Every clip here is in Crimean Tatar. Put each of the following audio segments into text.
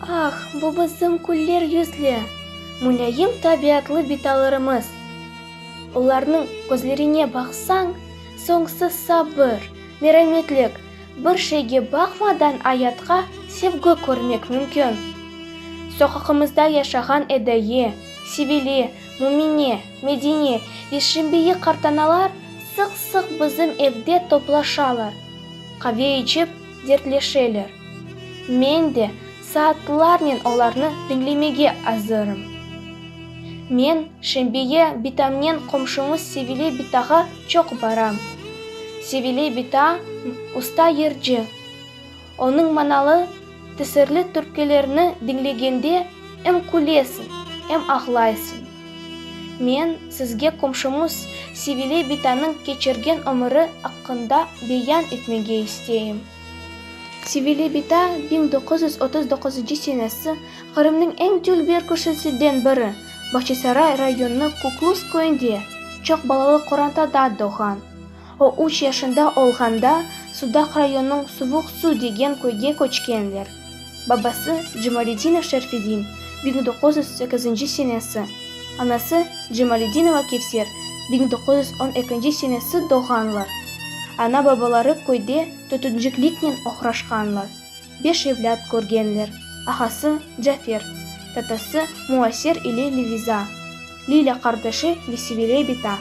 Ah, bu bizim küller yüzlü, mülâyim tabiatlı bitalarımız. Olarnıñ közlerine baqsañ, soñsız sabır, merametlik, bir şeyge baqmadan ayatqa sevgi körmek mümkün. Soqaqımızda yaşağan Edaye, Sivile, Mümine, Medine ve Şimbiye qartanalar sıq-sıq bizim evde toplaşalar. Qave içip, dertleşeler. Men de saatlarnen olarnı diñlemege azırım. Men şembeye bitamnen qomşumız Sevile bitağa çoq baram. Sevile bita, usta yırcı. Onıñ manalı. Tesirli türkülerni diñlegende em külesiñ, em ağlaysıñ. Men sizge qomşumız Sevile bitanıñ keçirgen ömüri aqqında beyan etmege isteyim. Sevile bita biñ doquz yüz otuz doquzıncı senesi Qırımnıñ eñ dülber köşesiden biri, Bağçasaray rayonınıñ Kuklus köyünde, çoq balalı qorantada doğğan. O üç yaşında olğanda Sudaq rayonınıñ Suvuq Su degen köyge köçkenler. Babası, Cemaletdinov Şerfedin, biñ doquz yüz sekizinci senesi, anası, Cemaletdinova Kevser, biñ doquz yüz on ekinci senesi doğğanlar. Ana-babaları köyde tütüncikliknen oğraşqanlar. Beş evlât körgenler, ağası Cafer, tatası Muaser ile Leviza, Lilâ qardaşı ve Sivile bita.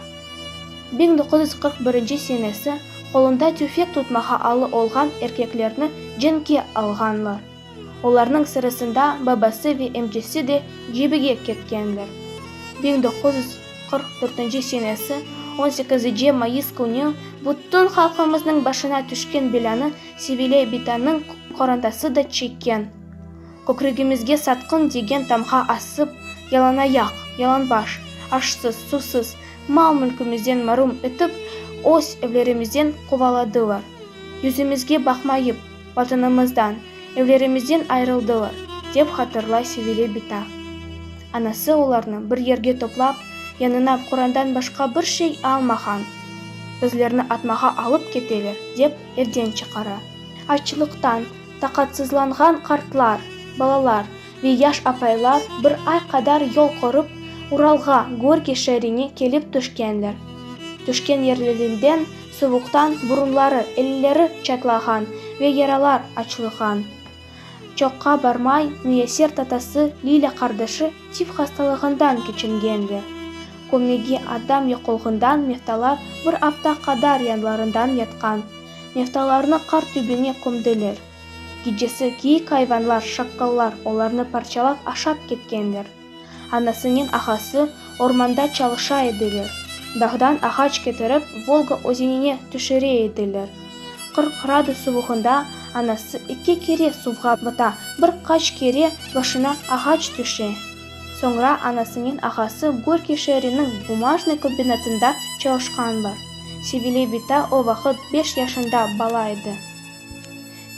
Biñ doquz yüz qırq birinci senesi qolunda tüfek tutmağa alı olğan erkeklerni cenkke alğanlar. Olarnıñ sırasında babası ve emcesi de cebige ketkenler. Biñ doquz yüz qırq dörtünci senesi on sekizice mayıs künü bütün halqımıznıñ başına tüşken belânı Sevile bitanıñ qorantası da çekken. Kökregimizge satqın degen tamğa asıp, yalanayaq, yalanbaş, aşsız, susız, mal-mülkümizden marum etip, öz evlerimizden quvaladılar. Yüzümizge baqmayıp, Vatanımızdan, evlerimizden ayırıldılar, dep hatırlay Sevile bita. Anası olarnı bir yerge toplap, yanına qorandan başqa bir şey almağan. Bizlerni atmağa alıp keteler, dep Evden çıqara. Açlıqtan taqatsızlanğan qartlar, balalar ve yaş apaylar bir ay qadar yol körip, Uralğa, Gorki şeerine kelip tüşkenler. Tüşken yerlerinden suvuqtan burunları, elleri çatlağan ve yaralar açılğan. Çoqqa barmay, Müyesser tatası Lilâ qardaşı tif hastalığından keçingenler. Kömege adam yoqolğından Meftalar bir afta qadar yanlarından yatqan. Meftalarnı qar tübüne kömdiler. Gecesi keyik ayvanlar, şakkallar olarnı parçalap aşap ketkenler. Anasınıñ ahası ormanda çalışa ediler. Dağdan ağaç ketirip Volga özenine tüşüre ediler. Qırq qradus suvuğında anası eki kere suvğa bata, bir qaç kere başına ağaç tüşe. Soñra anasınıñ ahası Gorkiy şeeriniñ bumajnıy kombinatında çalışqanlar. Sevile bita o vaqıt beş yaşında bala edi.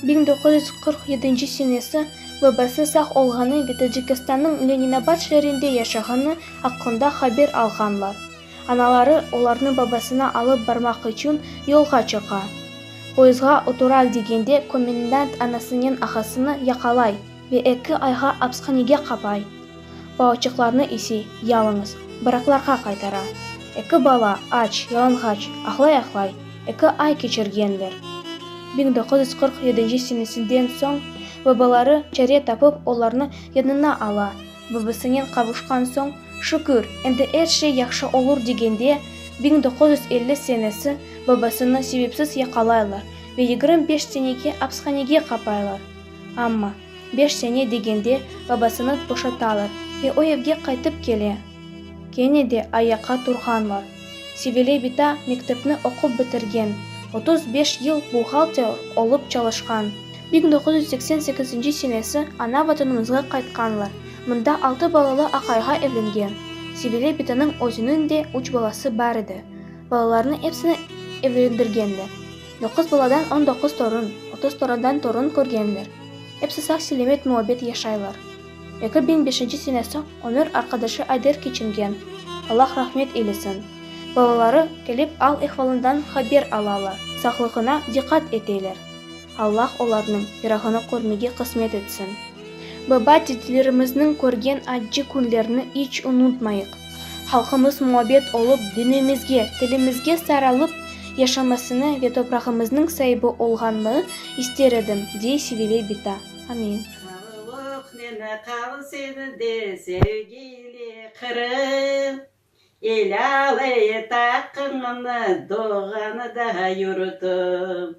Biñ doquz yüz qırq yedinci senesi babası sağ olğanı ve Tacikistannıñ Leninabad şeerinde yaşağanı aqqında haber alğanlar. Anaları olarnı babasına alıp barmaq içün yolğa çıqa. Poyızğa otural degende komendant anasınen ağasını yaqalay. Ve eki ayğa apishanege qapay. Balaçıqlarnı ise yalıñız baraklarğa qaytara. Eki bala aç, yalınğaç, ahlay-ahlay eki ay keçirgenler. Biñ doquz yüz qırq yedinci senesinden soñ babaları çare tapıp olarnı yanına ala. Babasınen qavuşqan soñ, şükür, endi er şey yahşı olur degende, biñ doquz yüz elli senesi babasını sebepsiz yaqalaylar ve yigirmi beş senege apishanege qapaylar. Amma, beş sene degende babasını boşatalar ve o evge qaytıp kele. Kene de ayaqqa turğanlar. Sevile bita mektepni oqup bitirgen, otuz beş yıl buhgalter olıp çalışqan. Biñ doquz yüz seksen sekizinci senesi ana vatanımızğa qaytqanlar. Mında altı balalı aqayğa evlengen. Sevile bitanıñ özüniñ de üç balası bar edi. Balalarını epsini evlendirgenler. Doquz baladan on doquz torun, otuz toradan torun körgenler. Epsi sağ selemet muabbet yaşaylar. Eki biñ beşinci sene soñ ömür arqadaşı Ayder keçingen, Allah rahmet eylesin. Balaları kelip al ehvalından haber alalar, sağlığına diqqat eteler. Allah olarnıñ firağını körmege qısmet etsin. Baba-dedelerimiznıñ körgen accı künlerini iç unutmayıq. Halqımız muabbet olıp, dinimizge, tilimizge saralıp yaşamasını ve toprağımıznıñ saibi olğanını ister edim, dey Sevile Bita. Amin. Sağlıq neme qal senide sevgili Qırım İlalı et aqqıñnı doğğanıda yurtum.